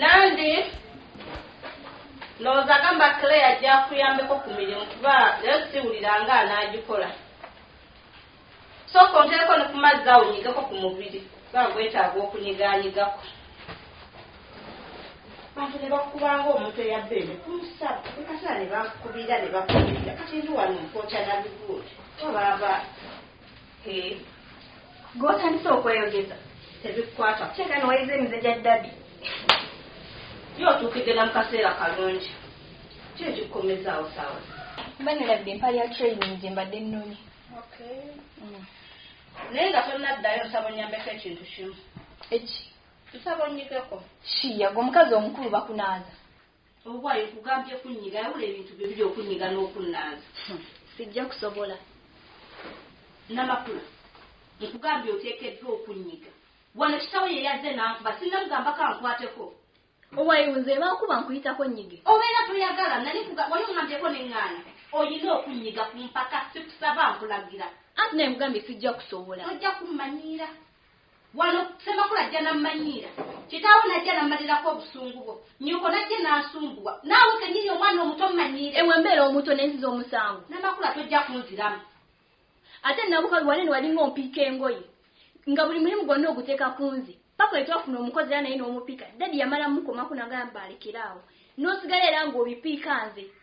nandi ndowooza agamba clare ajja kuyambeko ku mirimu kuba naye siwulira nga anaagikola sooka onteeko ne ku mazzi awo nyigeko ku mubiri kuba gwetaaga okunyigaanyigako bantu ne bakubanga omuntu eyabba ene kumusaba ekasala ne bakubira ne bakubira kati ndi wano nkokya nabiguuli obaaba Hee. Gwotandise okweyogeza tebikukwata kuteeka newayiza emize gya dadi. Yo otuukidde na mu kaseera kalungi. Ki ekikukomezaawo saawa zino? Mba nilabidde empale ya training gye mbadde nnonye. Okay. Mm. Naye nga tonnaddayo nsaba onnyambeko ekintu kimu. Eki? Nsaba onnyigeko. Shiya, gwe omukazi omukulu bakunaaza. Obuwaye nkugambye kunnyiga yawula ebintu byo biri okunnyiga n'okunnaaza. Sijja kusobola. Namakula, nkugambye oteekeddwa okunnyiga. Wano kitaawo ye yazze n'ankuba sinnamugambako ankwateko. Owaye nze bankuba nkuyitako nnyige? Obeera toyagala nali nkuga wali ongambyeko ne ŋŋaana. Olina okunnyiga ku mpaka sikusaba nkulagira. Anti naye nkugambye sijja kusobola. Tojja kummanyiira. Wano Ssemakula ajja n'ammanyiira. Kitaawo n'ajja n'ammalirako obusungu bwo. Nnyoko n'ajja n'asumbuwa. Naawe kennyini omwana omuto mmanyiire. Ewe mbeera omuto ne nziza omusango. Namakula tojja kunziramu. Ate Nabuka oli wanene walinga ompiika engoye. Nga buli mulimu gwonna oguteeka ku nze. Paka we twafuna omukozi era naye n'omupiika. Daddy yamala mukomako n'agamba alekere awo. N'osigala era ng'obipiika nze.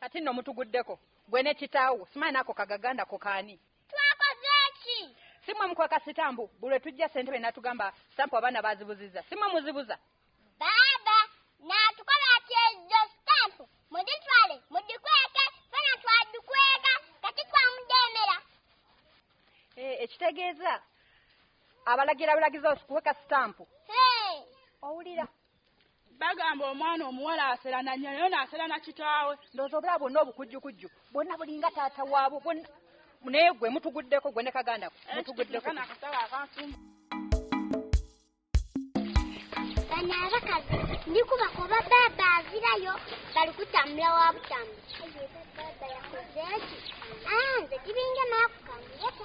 Kati nno mutuguddeko gwe ne kitaawo simanyi naako kagaganda ko kaani. Twakoze ki? Si mwe mukweka sitambu buli lwe tujja ssentebe n'atugamba sitampu abaana baazibuzizza si mwe muzibuza. Baaba naatukola ati ezo sitampu muzitwale mugikweke ffena twagikweka kati twamujeemera. Hee ekitegeeza abalagira bulagizi okukweka sitampu? Hee. Owulira? bagamba omwana omuwala aserana nyo naye naserana kitaawe ndowooza obulaba bwonna obukujjukujju bwonna bulinga taata waabwo bwonna naye gwe mutuguddeko gwe ne kaganda ko mutuguddeko bano abakazi ndikuba kuba baaba avirayo bali kutambula wa butambu baaba yakoze ki anze ah, tibinge maakukamuyeko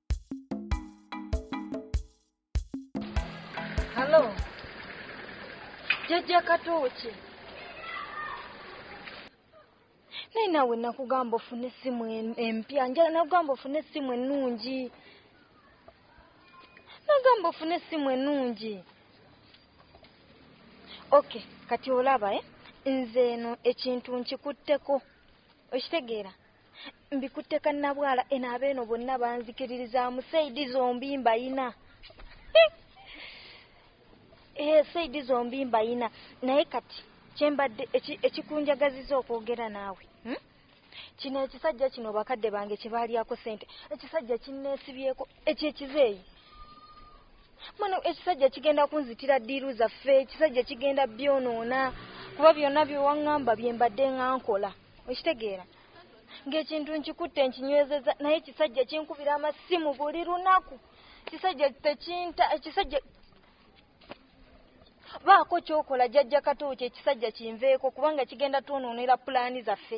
Halo. Jajja Katoki. Naye nawe nakugamba ofune essimu em- empya njala nakugamba ofune essimu ennungi nagamba ofune essimu ennungi ok kati olaba e nze eno ekintu nkikutteko okitegeera mbikutte kannabwala eno abeeno bonna banzikiririzaamu saidi zombi mbayina ee eh, saidi zombi mbayina naye kati kyembadde ekikunjagaziza okwogera naawe hmm? kino ekisajja kino bakadde bange kyebaalyako sente ekisajja kinneesibyeko ekyo ekizeeyi mwana ekisajja kigenda kunzitira ddiiru zaffe ekisajja kigenda byonoona kuba byonna byewaŋŋamba bye mbadde nga nkola okitegeera ng'ekintu nkikutte nkinywezeza naye ekisajja kinkubira amasimu buli lunaku kisajja tekinta ekisajja baako kyokola jajja kato kyo ekisajja kinveeko kubanga kigenda twonoonera pulaani zaffe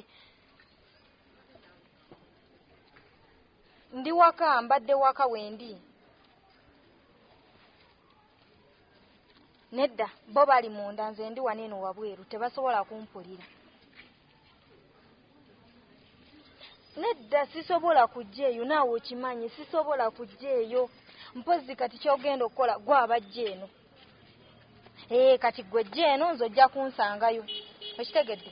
ndi waka mbadde waka wendi nedda bo bali munda nze ndi wano eno wabweru tebasobola kumpulira nedda sisobola kujja eyo naawe okimanyi sisobola kujja eyo mpozi kati kyogenda okukola gwe abajja eno ee kati gwe jja eno nze ojja kunsangayo okitegedde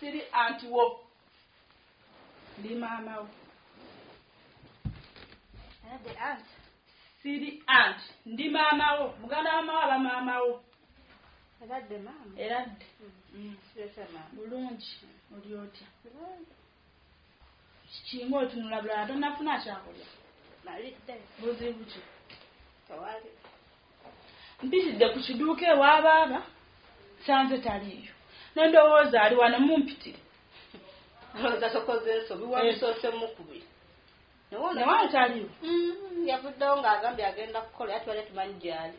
siri anti wo ndi maama wo siri anti ndi maama wo muganda wa maama aba maama wo eradde maama eradde mm. mm. bulungi oli otya Kimu otunula bulala tonafuna kyakulya. Malidde. Buzibu ki? Tewali. Mpitidde ku kiduuka ewa baaba sanze taliiyo. Nendowooza ali wano mumpitire. Olowooza tokoze ensobi eh. wabisoose mukubi. Newali taliiwo. Mm, yavuddewo ng'agambye agenda kukola yatubadde tumanyi gyali.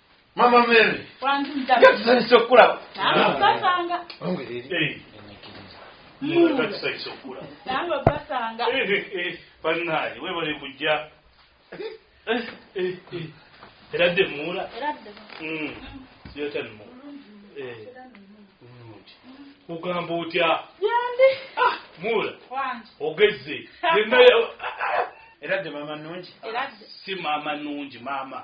mama mary yatuzanyisa okukulaba banaye webale kujja era dde muula kugamba otya ah, muula ogezze era dde mama nungi si mama nungi mama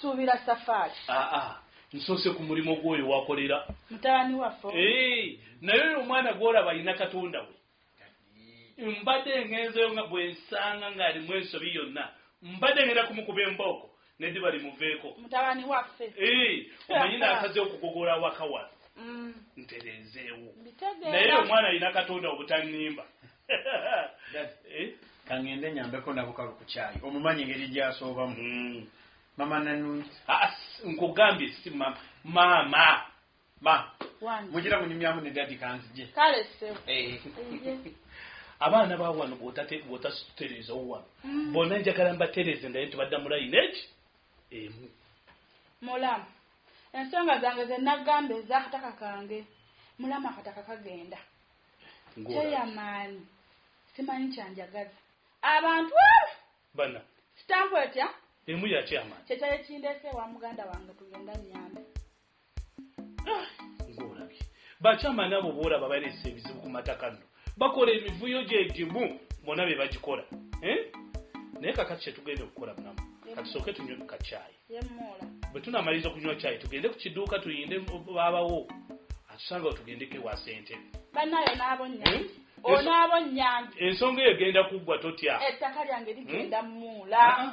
kusuubira safaari ah, ah. nsoose ku mulimu gwoyo wakolera mutabani waffe naye oyo omwana gwolaba alina katonda we mbadde ngenzeyo nga bwensanga ng'alimu ensobi yonna mbadde ngenda kumukuba embooko nediba limuveeko mutabani waffe omanyi nakaze okugogola awaka wano mm. ntereezeewo naye omwana alina katonda obutannimba eh? kangende nyambeko nabukalu ku kyayi omumanyi engeri gyasoobamu mm. mama nanungi ah, nkugambye si maama Ma, Wange. mujira munyumyamu ne daddy kanzije. Kale ssebo. Eh. Eye. Abaana ba wano bw'otate- bw'otatutereezawo wano. Mm. Bonna njagala mbatereeze ndaye nti badda mu layini eki emu. Mulamu. Ensonga zange ze nagamba ez'akataka kange. Mulamu akataka kagenda. Ng'ola. Kyeyamaanyi. Simanyi kyanjagaza. Abantu abo Bana, sitampu etya emu yakyama. kye kyali kindeese ewa muganda wange tugenda nnyambe. bakyama nabo boolaba balesa ebizibu ku mataka nno bakola emivuyo gyegimu bona be bagikola eh? naye kakati kyetugenda okukola munamu katusooke tunywe ku kacyayi bwe tunamaliriza okunywa cyayi tugende ku kiduuka tuyinde babawo atusanga we tugendeko ewa sente banayo nabonya eh? onaabonyanga ensonga eyo egenda kuggwa totya ettaka lyange ligenda eh? muula ah, ah.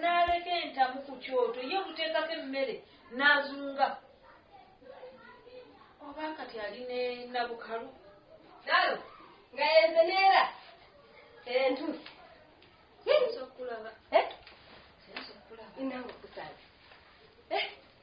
n'aleka entamu ku kyoto ye buteekako emmere n'azunga oba kati ali ne nabukalu nalo nga yenzeneera entuusi eh?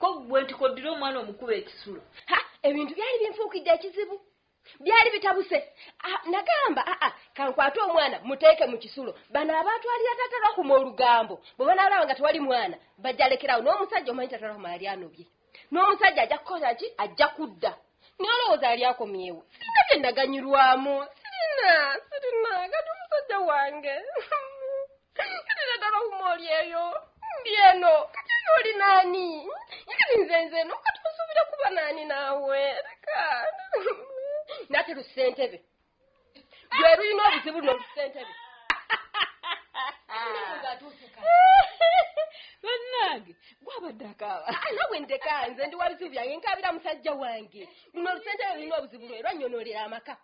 ko gwe nti koddira omwana omukuba ekisulo ha ebintu byali binfuukidde ekizibu byali bitabuse ah, nagamba aa ah, ah, kankwate omwana muteeke mu kisulo bano abantu alira tatera kuma olugambo bwe banaalaba nga tewali mwana bajja lekerawo n'omusajja omanyi tatera kuma yali anobye n'omusajja ajja kukola ki ajja kudda Nalowooza yali akomyewo. Sirina bye naganyulwamu. Sirina, sirina. Kati omusajja wange. Kati naddala okuma oli eyo. Ndi eno. Kati eno oli naani? Kati nze nze eno. Kati osuubira kuba naani naawe? Leka. Nate lu ssentebe. gwe lulina obuzibu luno lusentebe bannange gwabadde akaaba ah, nawe ndeka nze ndi wabizibu byange nkabira musajja wange luno olusentebe lulina obuzibu lwe lwanyonolera amaka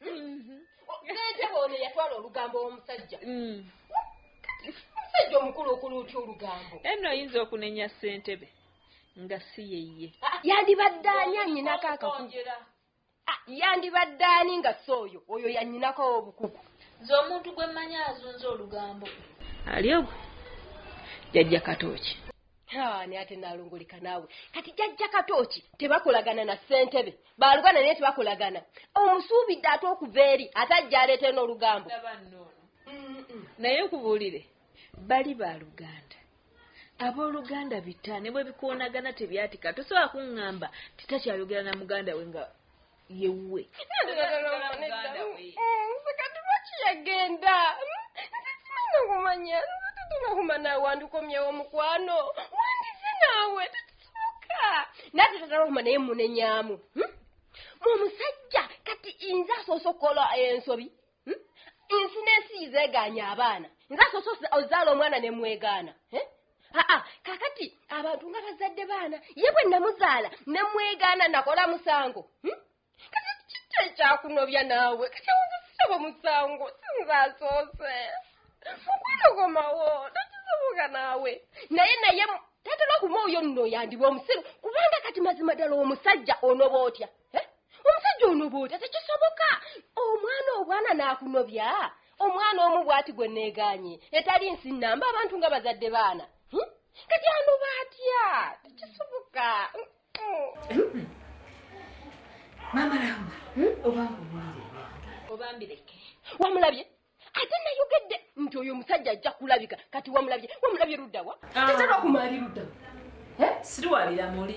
mhm. sentebe ono yatwala olugambo womusajja mm. omusajja omukulu okulu otya olugambo eno oyinza okunenya sentebe nga si yeye ah, yandibadde anyanyinako akaku Ah, yandibadde ani nga si oyo oyo yanyinako obukuku nze omuntu gwe mmanyi azunza olugambo ali ogwe jajja katooki ani ate nalungulika naawe kati jajja katooki tebakolagana na ssentebe balugana naye tebakolagana omusuubidde ate okuva eri ate ajja aleetee n'olugambo naye nkubuulire Bali baluganda aboluganda bita ne bwe bikoonagana tebyatika tosobola kuŋŋamba nti takyayogera na muganda we nga yewuwe kati yagenda nzikimanya okumanya nzitutuma kumana wandikomyewo mukwano wandize naawe tekisoboka nate tagala okuma naye munenyamu hmm? mumusajja kati inze asoose okukola ensobi hmm? ensi n'ensi yizeegaanya abaana nze asoose ozaala omwana ne mwegaana eh? aa kakati abantu nga bazadde baana ye bwe namuzaala ne mwegaana nakola musango hmm? kati kitta ekyakunobya naawe kati awuzisitabo musango sinze asoose mukwano gomawo takisoboka naawe naye naye tatera okuma oyo nno yandiba omusiru kubanga kati mazima ddala omusajja onoba otya eh? omusajja onoboota tekisoboka omwana obwana n'akunobya omwana omu bwati gwe neeganye etali nsi nnamba abantu nga bazadde baana hmm? kati anoba atya tekisoboka hmm? maama lamba hmm? obanga omulireera obambireke wamulabye ate nayogedde nti oyo omusajja ajja kulabika kati wamulabye wamulabye luddawa ah. tetera okumali luddawa eh? siriwalira muli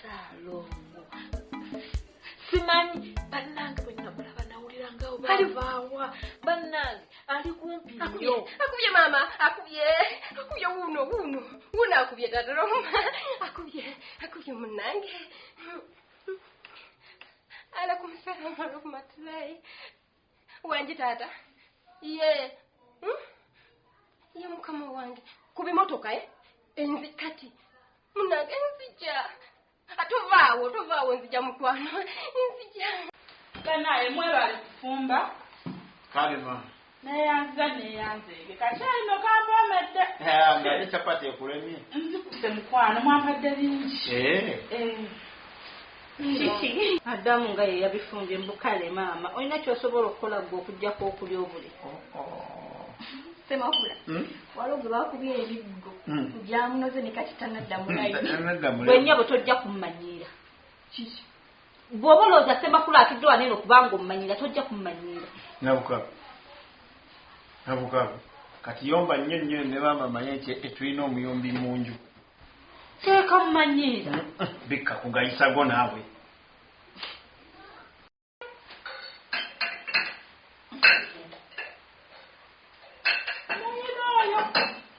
salongo simanyi bannange bwe namulaba nawulira nga obavaawa bannange ali kumpi nyo akubye maama akubye akubye wuuno wuuno wuuno akubye dadaloma akubye akubye munnange alaikum salaam warahmatullahi wangi taata ye hmm? ye mukama wange ku bimotoka e enzi kati munange nzija tovaawo tovaawo nzija mukwano nzija banaye mwebali kufumba kale mama neyanziza neyanzeege kakyalino kampoomedde naye capati ekulemye nzikuse mukwano mwampadde bingi eh. Eh. kiki adamu nga yeyabifumbye mbukale maama olina kyosobola okukola gwe okujjako okulya obuli oh, oh. semakula hmm? waliwo gwe bakubya ebiggo hmm. gyamunoze nekakitanaddamulaigwenyabo hmm, tojja kummanyiira kiki bwoba olowooza semakula atudde wanene okubanga omumanyira tojja kummanyiira nabukabu nabukabu kati yomba nnyo nnyo ne maama manye nti etulina omuyombi mu nju Teeka mumanyiira. Bikka kugayisago naawe.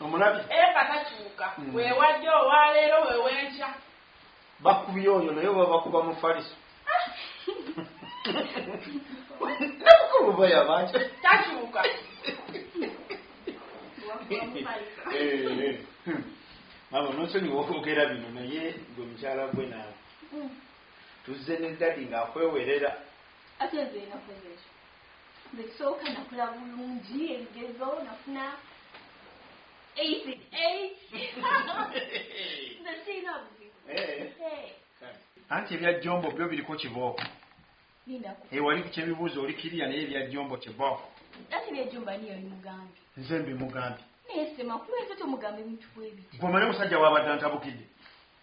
Omulabi. Eka takyuka. Mm. Weewajja owa leero wewenkya. Bakubye oyo naye oba bakuba mufaliso. Namukulu oba yabaki. Takyuka. Mama nonsonyiwa okwogera bino naye gwe mukyala gwe naawe. Hmm. Tuzze ne dadi ng'akwewerera. Ate nze nakoze ekyo. Nze kisooka nakula bulungi ebigezo nafuna Easy. Easy. the sea loves you. Hey. Hey. anti ebya jombo byo biriko kibooko ewali eh, kyebibuuzo oli kiriya naye ebya jombo kibooko nze mbimugambye gwe omanya omusajja wabadde antabukidde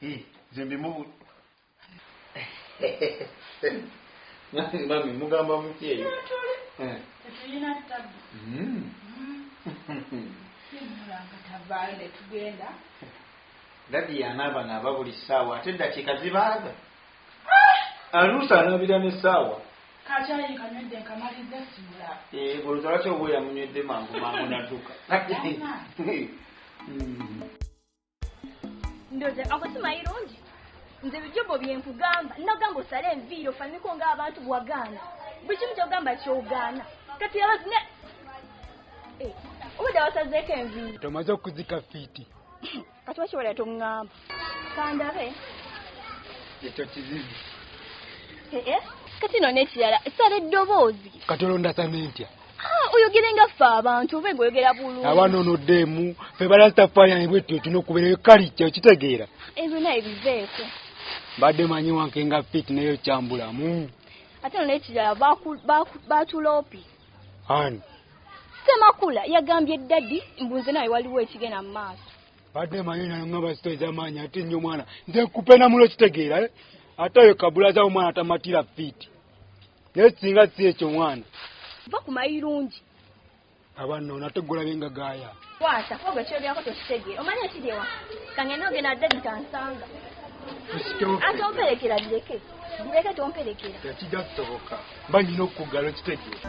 Hii, nze mbimubu Nani mami mugamba mutye eyo? Eh. Tetulina tabu. Mm. Simulanga tabale tugenda. Dadi yanaba naba buli ssaawa ate eddakiika zibaaga. Ah! Aluusa anabira ne ssaawa. Kakyayi nkanywedde nkamaliza simula. Eh, olowooza lwaki oba oyamunywedde mangu mangu nadduka. Kati. ndoze ako simayirungi nze bijobo byenkugamba nagamba osale enviiri ofaniko nga abantu bwagaana buli kimu kyogamba kyogaana kati yabazi ne eh, obudde wasazeeko enviiri tomaze okuzika fiiti kati wakiwala tongamba kandabe ekyo kizizi eh, eh. kati no nekirala sala eddoboozi kati olonda samintya Ah, oyogere nga ffe abantu oba ngoyogera bulungi abaana onoddemu fe balastafayani bwetyo tulina okubeerayo kali kyo kitegeera ebyo naye biveeko mbadde manyi wanke nga fit naye okyambulamu ate no nekirala batulopi ani semakula yagambye dadi mbunze nawe waliwo ekigenda mu maaso badde manyi nangamba sito ezamaanyi ate nnyo omwana nze kupenamulo kitegeera eh? ate oyo kabulaza omwana tamatira fiiti naye singa si ekyo mwana va ku mayirungi abanno nate gulabe nga gaaya kwasa koga kyogerako tekitegeera omanya ekidewa kangenda ogenda dedi kansanga ate omperekera bireke bireke tomperekera ekijja kusoboka mba nyina okukugala okitegeera